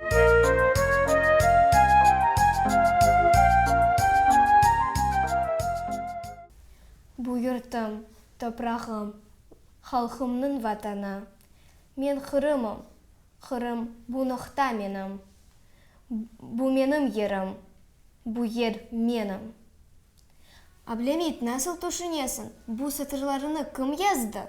Bu yurtum, toprağım, halqımnıñ Vatanı. Men Qırımım, Qırım, bu noqta menim. Bu menim yerim, bu yer menim. Ablemit, nasıl tüşünesiñ, bu satırlarını kim yazdı?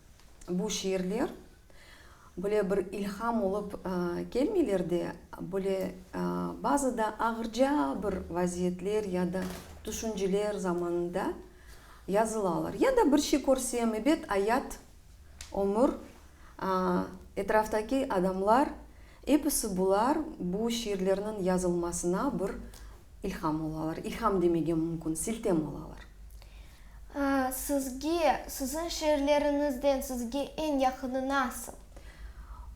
Bu şiirler böyle bir ilham olıp kelmeyler de, böyle bazı da ağırca bir vaziyetler ya da tüşünceler zamanında yazılalar. Ya da bir şey körsem, ebet, ayat, ömür, etraftaki adamlar, episi bular bu şiirlerniñ yazılmasına bir ilham olalar. İlham demege mümkün, siltem olalar. Sizge, siziñ şiirleriñizden sizge eñ yaqını nasıl?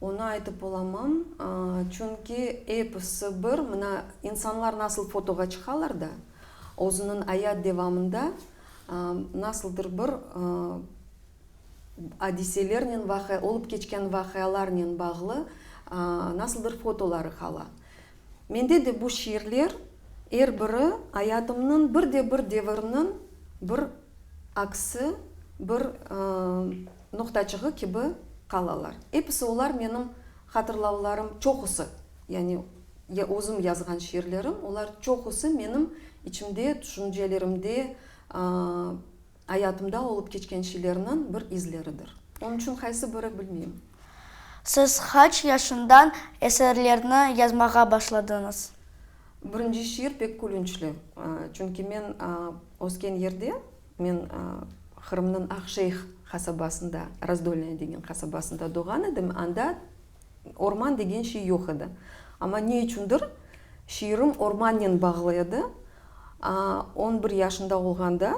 Onı aytıp olamam, çünki episi bir, mına, insanlar nasıl fotoğa çıqalar da, özüniñ ayat devamında nasıldır bir adiselernen, olıp keçken vaqialarnen bağlı nasıldır fotoları qala. Mende de bu şiirler, er biri ayatımnıñ bir de bir devirniñ bir aksi, bir noqtaçığı kibi qalalar. Episi olar menim hatırlavlarım, çoqusı, yani özüm yazğan şiirlerim, olar çoqusı menim içimde, tüşüncelerimde, Ayatımda olıp keçken şeylerniñ bir izleridir. Onıñ içün qaysı biri, bilmeyim. Siz qaç yaşından eserlerni yazmağa başladıñız? Birinci şiir pek külünçli. Çünki men ösken yerde, men Qırımnıñ Aqjeyh qasabasında, Razdolnaya degen qasabasında doğğan edim, anda Orman degen şey yoq edi. Amma ne içündir, şiirim ormannen bağlı edi. On bir yaşında olğanda,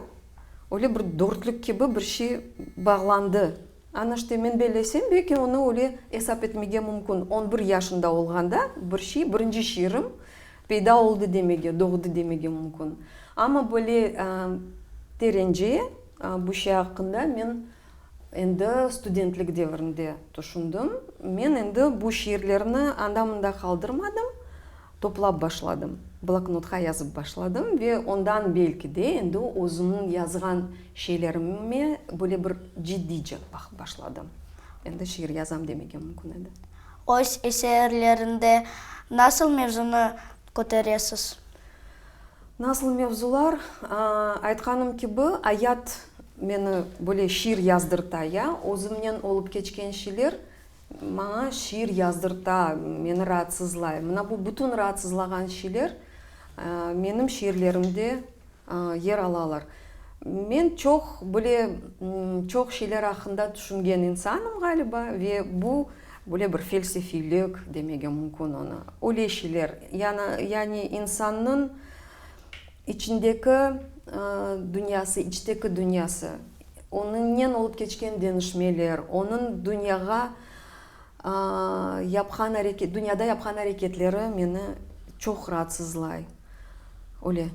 öyle bir dörtlük kibi bir şey bağlandı. Ana işte, men bellesem, belki onı öyle esap etmege mümkün. On bir yaşında olğanda bir şey, birinci şiirim peyda oldı demege, doğdı demege mümkün. Amma böyle terence bu şey aqqında men Endi studentlik devrinde tüşündim. Men endi bu şiirlerni anda-mında qaldırmadım, toplap başladım, bloknotqa yazıp başladım ve ondan belki de endi özümniñ yazğan şeylerime böyle bir ciddice baqıp başladım. Endi şiir yazam demege mümkün edi. Öz eserlerinde nasıl mevzunı köteresiz? Nasıl mevzular? Aytqanım kibi, ayat meni böyle şiir yazdırta, ya özümnen olıp keçken şeyler maña şiir yazdırta, meni raatsızlay. Mına bu bütün raatsızlağan şeyler menim şiirlerimde yer alalar. Men çoq böyle, çoq şeyler aqqında tüşüngen insanım, ğaliba, ve bu Böyle bir felsefiylik demege mümkün onı. Öyle şeyler, yani, yani insannıñ içindeki dünyası, içteki dünyası, onıñnen olıp keçken deñişmeler, onıñ dünyağa yapqan areke, dünyada yapqan areketleri meni çoq raatsızlay. Öyle.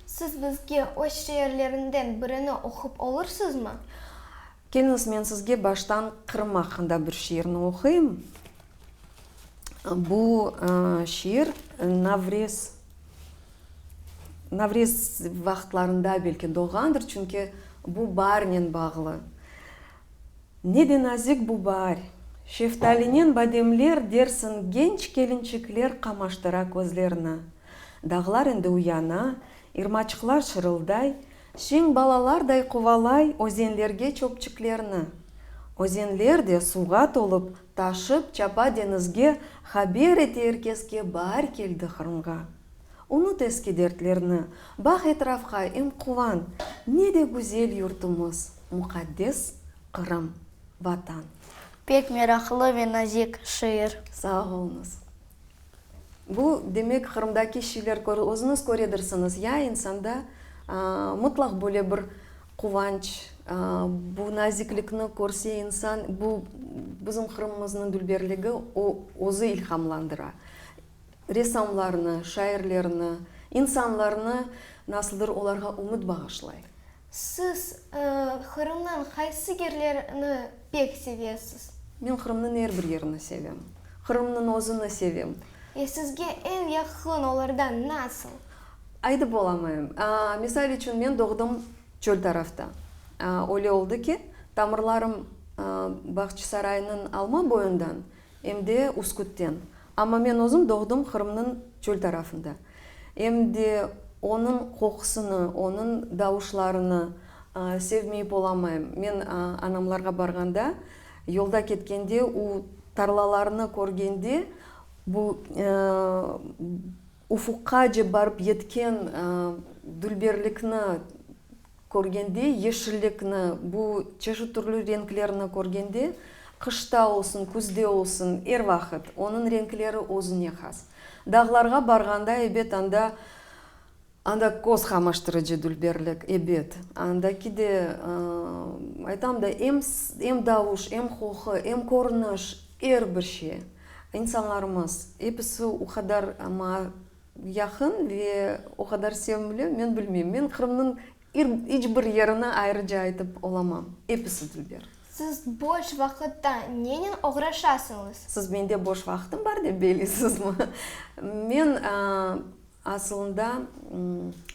Siz bizge öz şiirlerinden birini oqup olursızmı? Keliñiz, men sizge baştan Qırım aqqında bir şiirni oquyım. Bu şiir Navrez, Navrez vaqıtlarında belki doğğandır, çünki bu baarnen bağlı. Ne de nazik bu baar! Şeftalinen bademler dersiñ genç kelinçikler qamaştıra közlerini. Dağlar endi uyana, irmaçıqlar şırılday. Şiñ balalarday quvalay özenlerge çöpçüklerni. Özenler de suvğa tolup, taşıp çapa deñizge, haber ete erkeske Baar keldi Qırımğa. Unut eski dertlerni, baq etrafqa, em quvan, Ne de güzel yurtumız, muqaddes Qırım, Vatan! Pek meraqlı ve nazik şiir. Sağ oluñız. Bu, demek, Qırımdaki şeyler körü özüniz köredirsiniz, ya insanda mıtlaq böyle bir quvanç, bu naziklikni körse insan, bu bizim Qırımımıznıñ dülberligi, o özü ilhamlandıra ressamlarnı, şairlerni, insanlarnı, nasıldır olarğa ümüt bağışlay. Siz Qırımnıñ qaysı yerlerini pek sevesiz? Men Qırımnıñ er bir yerini sevem. Qırımnıñ özüni sevem. E, sizge eñ yaqın olardan nasıl? Aytıp olamayım. Misal içün, men doğdım çöl tarafta. Öyle oldı ki, tamırlarım Bağçısaraynıñ alma boyundan Em de Üsküt'ten. Amma men özüm doğdım Qırımnıñ çöl tarafında. Em de onıñ qoqusını, onıñ davuşlarını sevmeyip olamayım. Men anamlarğa barğanda, yolda ketkende, u tarlalarnı körgende, bu ufuqqa cep barıp yetken dülberlikni Körgende yeşillikni, bu çeşit türlü renklerni körgende, qışta olsun, küzde olsun, er vaqıt, onıñ renkleri özüne has. Dağlarğa barğanda, ebet, anda, anda köz qamaştırıcı dülberlik, ebet, andaki de, aytam da, em, em davuş, em qoqu, em körüniş, er bir şey, insanlarımız, episi o qadar, amma, Yaqın ve o qadar sevimli, men bilmeyim. Men Qırımnıñ iç bir yerini ayrıca aytıp olamam. Episi dülber. Siz boş vaqıtta nenen oğraşasıñız? Siz mende boş vaqtım bar dep beylesizmi? Men asılında,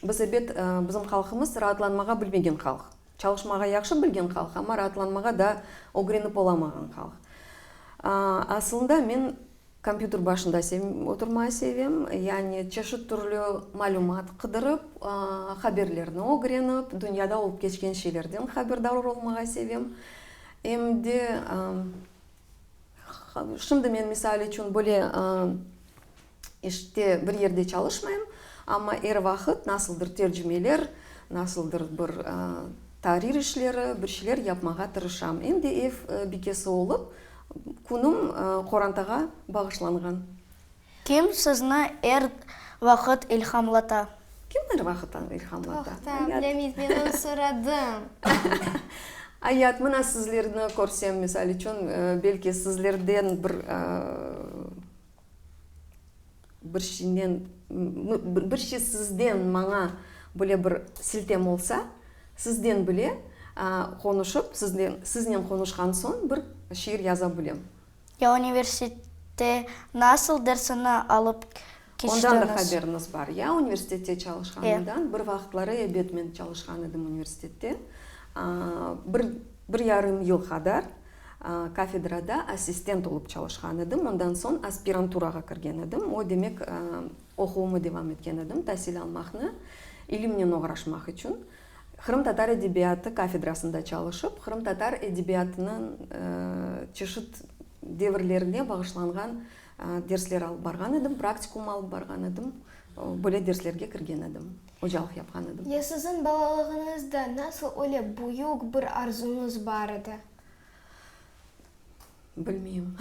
biz ebet, bizim halqımız raatlanmağa bilmegen halq. Çalışmağa yahşı bilgen halq, amma raatlanmağa daa ögrenip olamağan halq. Asılında men. Kompyuter başında oturmayı sevem, yani çeşit türlü malümat qıdırıp, haberlerni ögrenip, dünyada olıp keçken şeylerden haberdar olmağa sevem. Em de, şimdi men, misal içün, böyle işte bir yerde çalışmayım, amma er vaqıt nasıldır tercümeler, nasıldır bir tahrir işleri, bir şeyler yapmağa tırışam. Em de ev bikesi olıp, Künüm qorantağa bağışlanğan. Kim sizni er vaqıt ilhamlata? Kim er vaqıt ilhamlata? Toqta, bilemeyiz, men onı soradım. Ayat, mına sizlerni körsem, misal içün, belki sizlerden bir Bir şeynen, bir şey sizden maña böyle bir siltem olsa, sizden bile qonuşıp, siznen qonuşqan soñ bir şiir yaza bilem. Ya universitette nasıl dersini alıp keçtiñiz? Ondan da haberiñiz bar, ya? Universitette çalışqanımdan, bir vaqıtları, ebet, men çalışqan edim universitette. Bir yarım yıl qadar. Kafedrada assistent olıp çalışqan edim, ondan soñ aspiranturağa kirgen edim. O demek, oquvımı devam etken edim, tasil almaqnı, ilimnen oğraşmaq içün. Qırımtatar edebiyatı kafedrasında çalışıp, qırımtatar edebiyatınıñ çeşit devirlerine bağışlanğan dersler alıp barğan edim, praktikum alıp barğan edim, böyle derslerge kirgen edim. Ocalıq yapqan edim. Ya siziñ balalığıñızda nasıl öyle büyük bir arzuñız bar edi? Bilmeyim.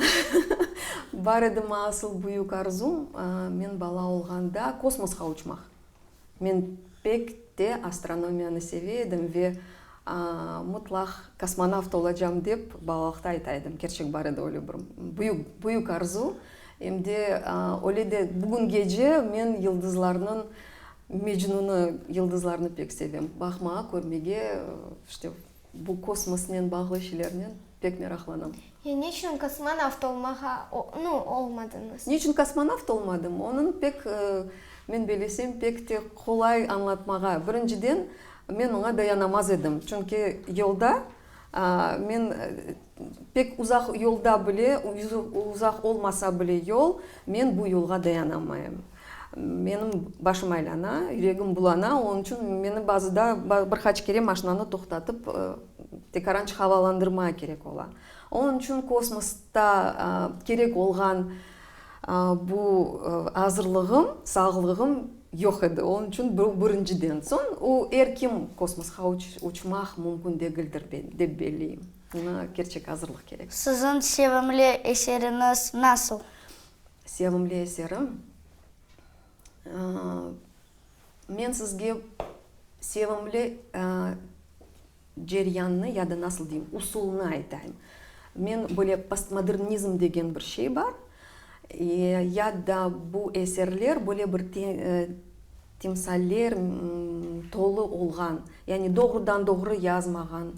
Bar edimi asıl büyük arzum? Men bala olğanda kosmosqa uçmaq. Men pek te astronomiyanı seve edim ve Mutlaq kosmonavt olacam dep balalıqta ayta edim, kerçek bar edi öyle bir büyük, büyük arzu. Em de öyle de bugün gece men yıldızlarnıñ Mecnunı, yıldızlarnı pek sevem, baqmağa, körmege, işte bu kosmosnen bağlı şeylernen. Pek meraqlanam. Ya niçün kosmonavt olmağa no, olmadıñız? Niçün kosmonavt olmadım? Onıñ pek, men belesem, pek te qolay añlatmağa. Birinciden, men oña dayanamaz edim. Çünki yolda, men pek uzaq yolda bile, uzaq olmasa bile yol, men bu yolğa dayanamaym. Menim başım aylana, yüregim bulana, onıñ içün meni bazıda bir qaç kere maşinanı toqtatıp, tekaranç havalandırma kerek ola. Onıñ içün kosmosta kerek olğan bu azırlığım, sağlığım yoq edi. Onıñ içün bu birinciden. Soñ, o, er kim kosmosqa uçmaq mümkün degildir dep belleyim. Buña kerçek azırlıq kerek. Siziñ sevimli eseriñiz nasıl? sevimli eserim. Men sizge sevimli ceryannı ya da nasıl deyim, usulnı aytayım. Men böyle postmodernizm degen bir şey bar. Ya da bu eserler böyle bir timsaller tolu olğan, yani doğrudan-doğru yazmağan,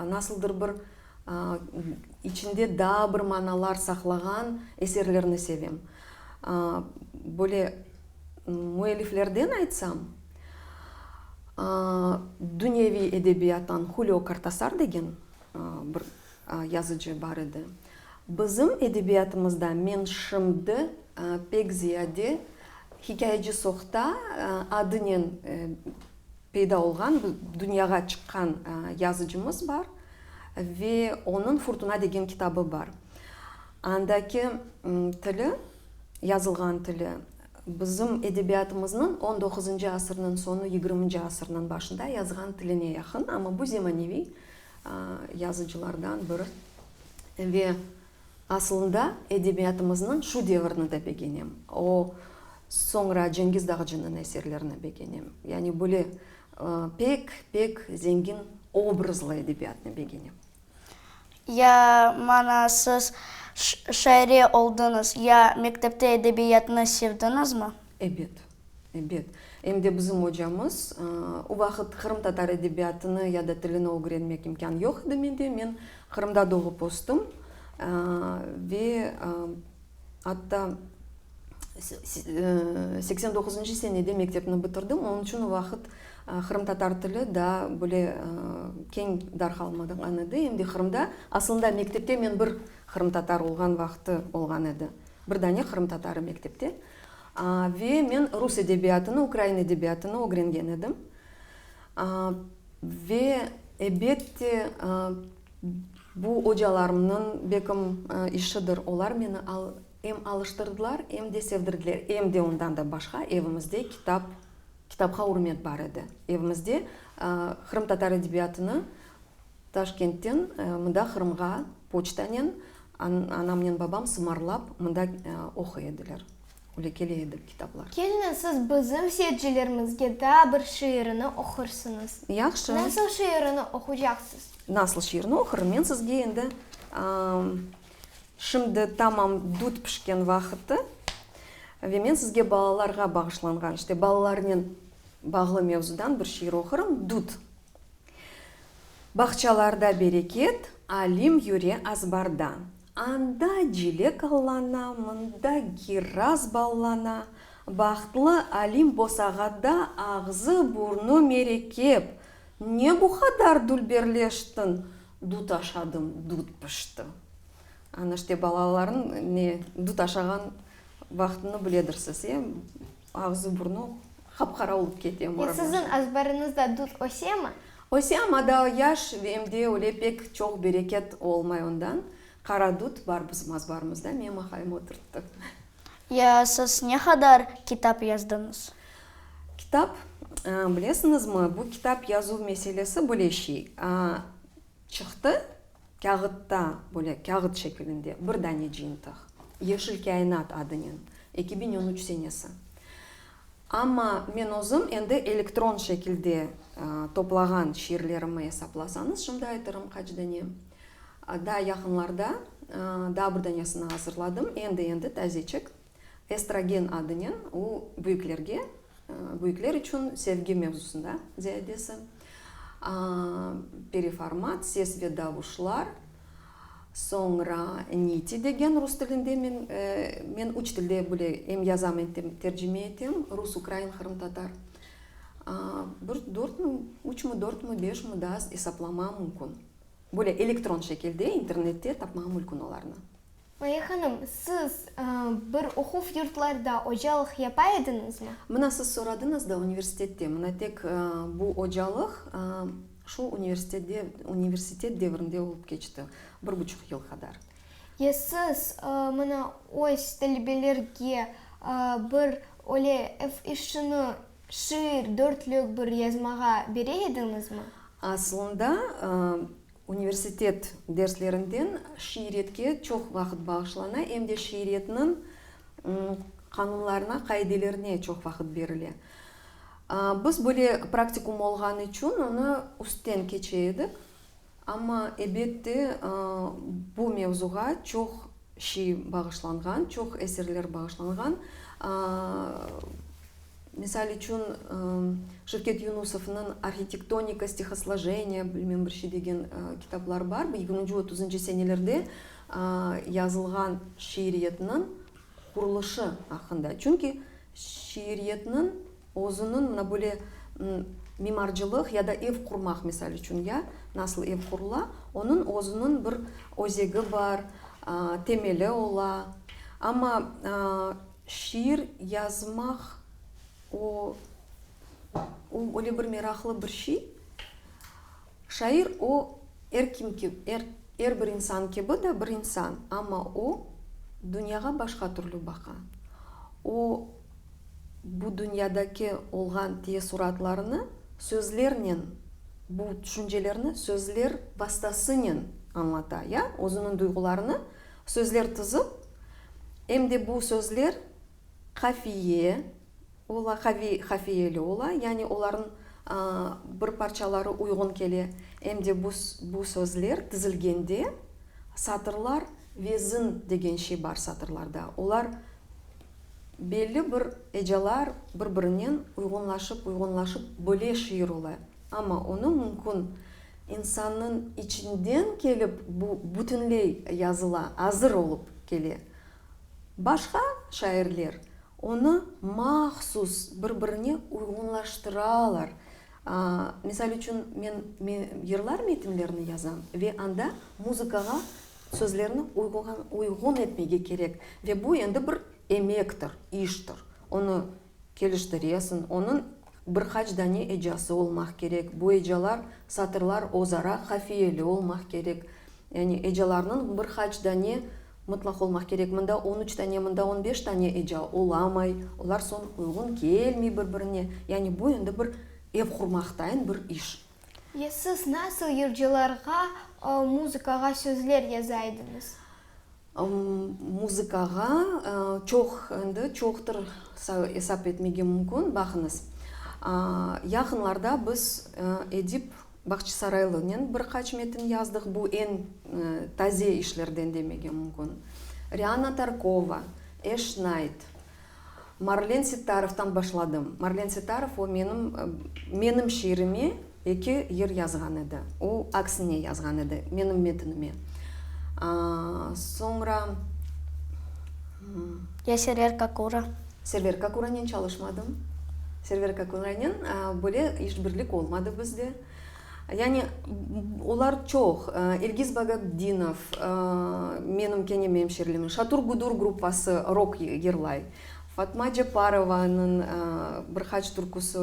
nasıldır bir İçinde daa bir manalar saqlağan eserlerni sevem. Böyle müelliflerden aytsam, dünyeviy edebiyattan Hulio Kortasar degen bir yazıcı bar edi. Bizim edebiyatımızda men şimdi pek ziyade Hikâyeci Sohta adınen Peyda olğan, dünyağa çıqqan yazıcımız bar ve onıñ Furtuna degen kitabı bar. Andaki tili, yazılğan tili bizim edebiyatımıznıñ on doquzıncı asırnıñ soñu, yigirminci asırnıñ başında yazğan tiline yaqın, amma bu zemaneviy yazıcılardan biri ve. Asılında edebiyatımıznıñ şu devirini de begenem. O, soñra Cengiz Dağcınıñ eserlerini begenem. Yani böyle pek, pek zengin obrazlı edebiyatnı begenem. Ya mana siz şaire oldıñız, ya mektepte edebiyatnı sevdiñizmi? Ebet. Ebet, em de bizim ocamız. O vaqıt qırımtatar edebiyatını ya da tilini ögrenmek imkân yoq edi mende. Men Qırımda doğıp östüm ve atta seksen doquzuncı senede mektepni bitirdim. Onıñ içün o vaqıt qırımtatar tili daa böyle keñ darqalmağan edi. Em de Qırımda, aslında mektepte men bir qırımtatar olğan vaqıtı olğan edi. Bir dane qırımtatarı mektepte. Ve men rus edebiyatını, ukrain edebiyatını ögrengen edim. Ve, ebet de, bu ocalarımnıñ bekim işidir. Olar meni em alıştırdılar, em de sevdirdiler. Em de ondan da başqa, evimizde kitap, kitapqa ürmet bar edi. Evimizde qırımtatar edebiyatını Taşkentten mında Qırımğa poçtanen anamnen babam sımarlap mında oquy ediler, öyle kele edi kitaplar. Kelni, siz bizim seyircilerimizge daa bir şiirini oqursıñız. Yahşı. Nasıl şiirini oqucaqsız? Nasıl şiirini oqurım? Men sizge endi Şimdi tamam dut pişken vaqıtı ve men sizge balalarğa bağışlanğan, işte balalarnen bağlı mevzudan bir şiir oqurım, Dut. Bağçalarda bereket, alim yüre azbarda. Anda cilek allana, mında giraz ballana. Bahtlı alim bosağada, ağzı, burnu merekep. Ne bu qadar dülberleştin? Dut aşadım, dut pişti. Ana işte balalarnıñ ne dut aşağan vaqtını biledirsiz, e? Ağzı-burnu qap-qara olıp kete Murat Yaşar. Siziñ azbarıñızda dut ösemi? Öse, amma daa yaş ve em de öyle pek çoq bereket olmay ondan. Qara dut bar bizim azbarımızda, menim aqayım oturttı. Ya siz ne qadar kitap yazdıñız? Kitap? Bilesiñizmi, bu kitap yazuv meselesi bile şey. Çıqtı, kâğıtta, böyle kâğıt şekilinde bir dane cıyıntıq, Yeşil kâinat adınen, eki biñ on üç senesi. Amma men özüm endi elektron şekilde toplağan şiirlerimi esaplasañız, şimdi aytırım qaç dane. Daa yaqınlarda daa bir danesini azırladım, endi-endi, tazeçik. Estrogen adınen u büyüklerge, büyükler içün sevgi mevzusında ziyadesi, periformat, ses ve davuşlar, soñra niti degen rus tilinde men, men üç tilde bile em yazam, em tercime etem, rus, ukrain, qırımtatar, bir dört mü, üç mü, dört mü, beş mü daa esaplamağa mümkün. Böyle elektron şekilde internette tapmağa mülkün olarnı. Maya hanım, siz bir oquv yurtlarda ocalıq yapa ediñizmi? Mına siz soradıñız da, universitette. Mına tek bu ocalıq şul universitette, universitet devrinde olıp keçti, bir buçuq yıl qadar. Ya siz mına öz talebelerge bir öyle ev işini, şiir, dörtlük bir yazmağa bere ediñizmi? Aslında Universitet derslerinden şiiriyetke çoq vaqıt bağışlana, em de şiiriyetniñ qanunlarına, qaidelerine çoq vaqıt berile. Biz böyle praktikum olğanı içün onı üstten keçe edik. Amma, ebet de, bu mevzuğa çoq şey bağışlanğan, çoq eserler bağışlanğan. Misal içün, Şevket Yunusovnıñ Arhitektonika stihoslojeniyâ, bilmem, bir şey degen kitapları bar. Bu yigirminci, otuzıncı senelerde yazılğan şiiriyetniñ quruluşu aqqında. Çünki şiiriyetniñ özüniñ mına böyle mimarcılıq ya da ev qurmaq, misal içün, ya, nasıl ev qurula, onıñ özüniñ bir özegi bar, temeli ola. Amma Şiir yazmaq, o, o, öyle bir meraqlı bir şey. Şair, o, er kim ki, er, er bir insan kibi de bir insan, amma o, dünyağa başqa türlü baqa. O, bu dünyadaki olğan teessuratlarını sözlernen, bu tüşüncelerni sözler vastasınen añlata, ya, özüniñ duyğularını, Sözler tizip, em de bu sözler qafiye ola, qaviy qafiyeli ola, yani olarnıñ bir parçaları uyğun kele, em de bu bu sözler tizilgende satırlar vezin degen şey bar satırlarda, olar belli bir ecalar bir-birinen uyğunlaşıp uyğunlaşıp bile şiir ola. Amma onı mümkün insannıñ içinden kelip bu bütünley yazıla, azır olıp kele. Başqa şairler onı mahsus bir-birine uyğunlaştıralar. Misal içün men yırlar metinlerini yazam ve anda muzıkağa sözlerni uyğun etmege kerek ve bu endi bir emektir, iştir. Onı. Keliştiresin, onıñ bir qaç dane ecası olmaq kerek, bu ecalar, satırlar özara qafiyeli olmaq kerek, yani ecalarnıñ bir qaç dane mıtlaq olmaq kerek, mında on üç dane, mında on beş dane eca olamay, olar soñ uyğun kelmey bir-birine, yani bu endi bir ev qurmaqtayın bir iş. Ya siz nasıl yırcılarğa muzıkağa sözler yaza ediñiz? Muzıkağa çoq, endi çoqtır esap etmege mümkün. Baqıñız, yaqınlarda biz Edip Bağçısaraylınen bir qaç metin yazdıq, bu eñ taze işlerden demege mümkün. Riana Tarkova, Eş Nayt, Marlen Settarovdan başladım. Marlen Settarov o menim, menim şiirime eki yır yazğan edi. O aksine yazğan edi, menim metinime. Soñra, ımm. Ya Server Kakura. Server Kakuranen çalışmadım. Server Kakuranen böyle işbirlik olmadı bizde. Yani, olar çoq, İlgiz Bagabdinov, menim keñem emşirlimim, Şatur Gudur gruppası rok yırlay, Fatma Ceparovanıñ bir qaç türküsi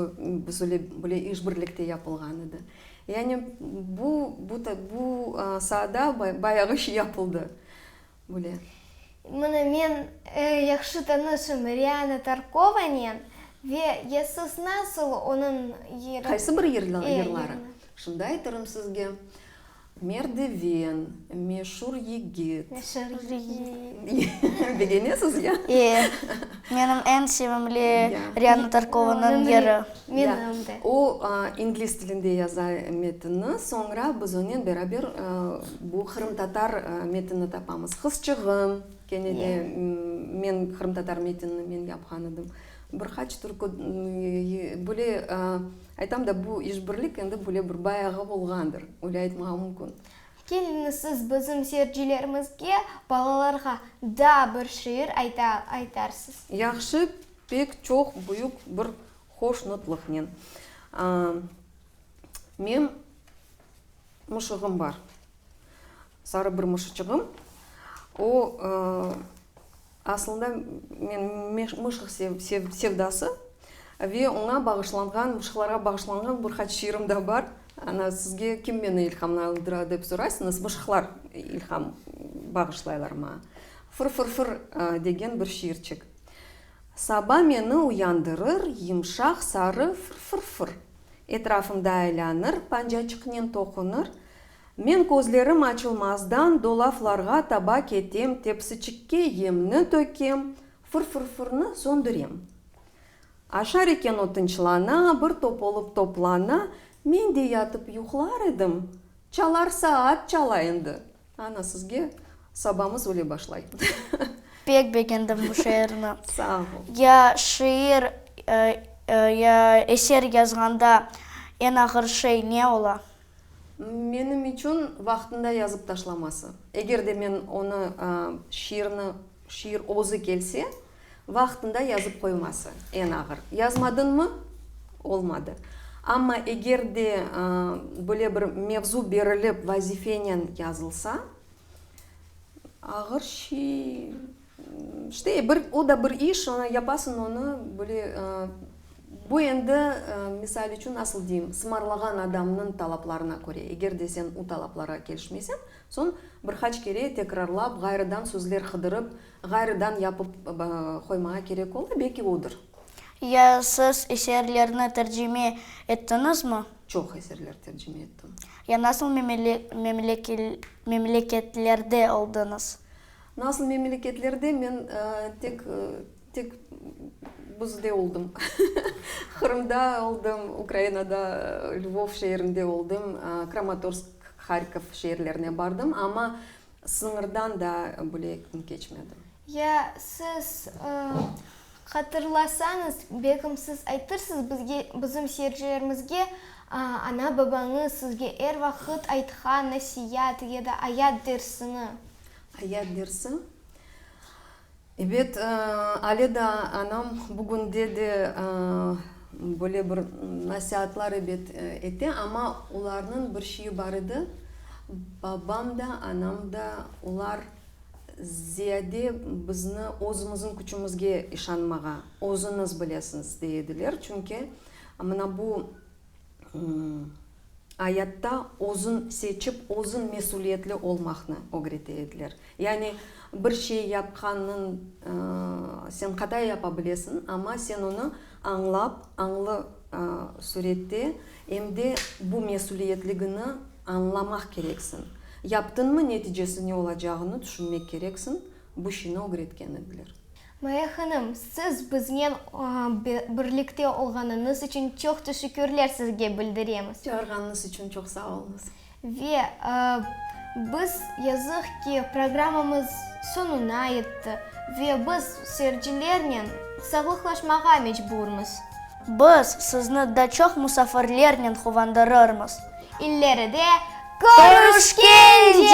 bizle bile işbirlikte yapılğan edi. Yani, bu, bu, bu saada bayağı şey yapıldı. Güle. Mına men yahşı tanışım Riana Tarkovanen ve ya siz nasıl onıñ yırı. Qaysı bir yırları? Şimdi aytırım sizge, Merdiven, Meşur yigit. Meşur yigit. Begenesiz ya? E, menim eñ sevimli Riana Tarkovanıñ yırı. Menim de. O, ingliz tilinde yaza metinni, soñra biz onen beraber. Bu qırımtatar metinni tapamız. Qızçığım, kene de men qırımtatar metinni men yapqan edim. Bir qaç türkü, böyle aytam da, bu işbirlik endi böyle bir bayağı olğandır, öyle aytmağa mümkün. Keliniz, siz bizim seyircilerimizge, balalarğa daa bir şiir ayta aytarsız. Yahşı, pek çoq büyük bir hoşnutlıqnen. Men mışığım bar, sarı bir mışıçığım. O, asılında men mışıq sevdası ve oña bağışlanğan, mışıqlarğa bağışlanğan bir qaç şiirim da bar. Ana, sizge kim meni ilhamlandıra dep soraysıñız, mışıqlar ilham bağışlaylar maña. Fır-fır-fır degen bir şiirçik. Saba meni uyandırır yımşaq sarı fır-fır-fır, Etrafımda aylanır, pancaçıqnen toqunır. Men közlerim açılmazdan dolaflarğa taba ketem, Tepsiçikke yemni tökem, fır-fır-fırnı söndürem. Aşar eken o tınçlana, bir top olıp toplana, Men de yatıp yuqlar edim, çalar saat çala endi. Ana, sizge sabamız öyle başlay. Pek begendim bu şiirni. Sağ ol. Ya şiir, ya eser yazğanda eñ ağır şey ne ola? Menim içün vaqtında yazıp taşlaması. Eger de men onı, şiirni, Şiir özü kelse, vaqtında yazıp qoyması, eñ ağır. Yazmadıñmı? Olmadı. Amma eger de böyle bir mevzu berilip, vazifenen yazılsa, ağır şey, işte, bir, o da bir iş, onı yapasıñ, onı böyle, bu endi, misal içün, nasıl deyim, sımarlağan adamnıñ talaplarına köre, eger de sen o talaplarğa kelişmeyseñ, Soñ bir qaç kere tekrarlap, ğayrıdan sözler qıdırıp, ğayrıdan yapıp qoymağa kerek ola, belki odır. Ya siz eserlerni tercime ettiñizmi? Çoq eserler tercime ettim. Ya nasıl memleketlerde oldıñız? Nasıl memleketlerde men tek Tek bizde oldım. Qırımda oldım, Ukrainada, Lvov şeerinde oldım, Kramatorsk, Harkov şeerlerine bardım, amma sıñırdan daa bile keçmedim. Ya, siz hatırlasañız, belkim siz aytırsız bizge, bizim seyircilerimizge, ana-babañız sizge er vaqıt aytqan nasiat ya da ayat dersini? Ayat dersi? Ebet, ale daa anam bugünde de böyle bir nasiatlar ebet ete, amma olarnıñ bir şeyi bar edi, babam da, anam da, olar ziyade bizni özümizniñ küçümizge işanmağa, özüñiz bilesiñiz, dey ediler. Çünki mına bu. ayatta özün seçip, özün mesüliyetli olmaqnı ögrete ediler. Yani bir şey yapqanın sen qata yapa bilesiñ, amma sen onı añlap, añlı sürette, em de bu mesüliyetligini añlamaq kereksiñ. Yaptıñmı, neticesi ne olacağını tüşünmek kereksiñ, bu şiñi ögretken ediler. Maya hanım, siz biznen birlikte olğanıñız içün çoq teşekkürler sizge bildiremiz. Çağırğanıñız içün çoq sağ oluñız. Ve biz, yazıq ki, programmamız soñuna yetti ve biz seyircilernen sağlıqlaşmağa mecburmız. Biz sizni daa çoq musafirlernen quvandırırmız. İlleride körüşkence!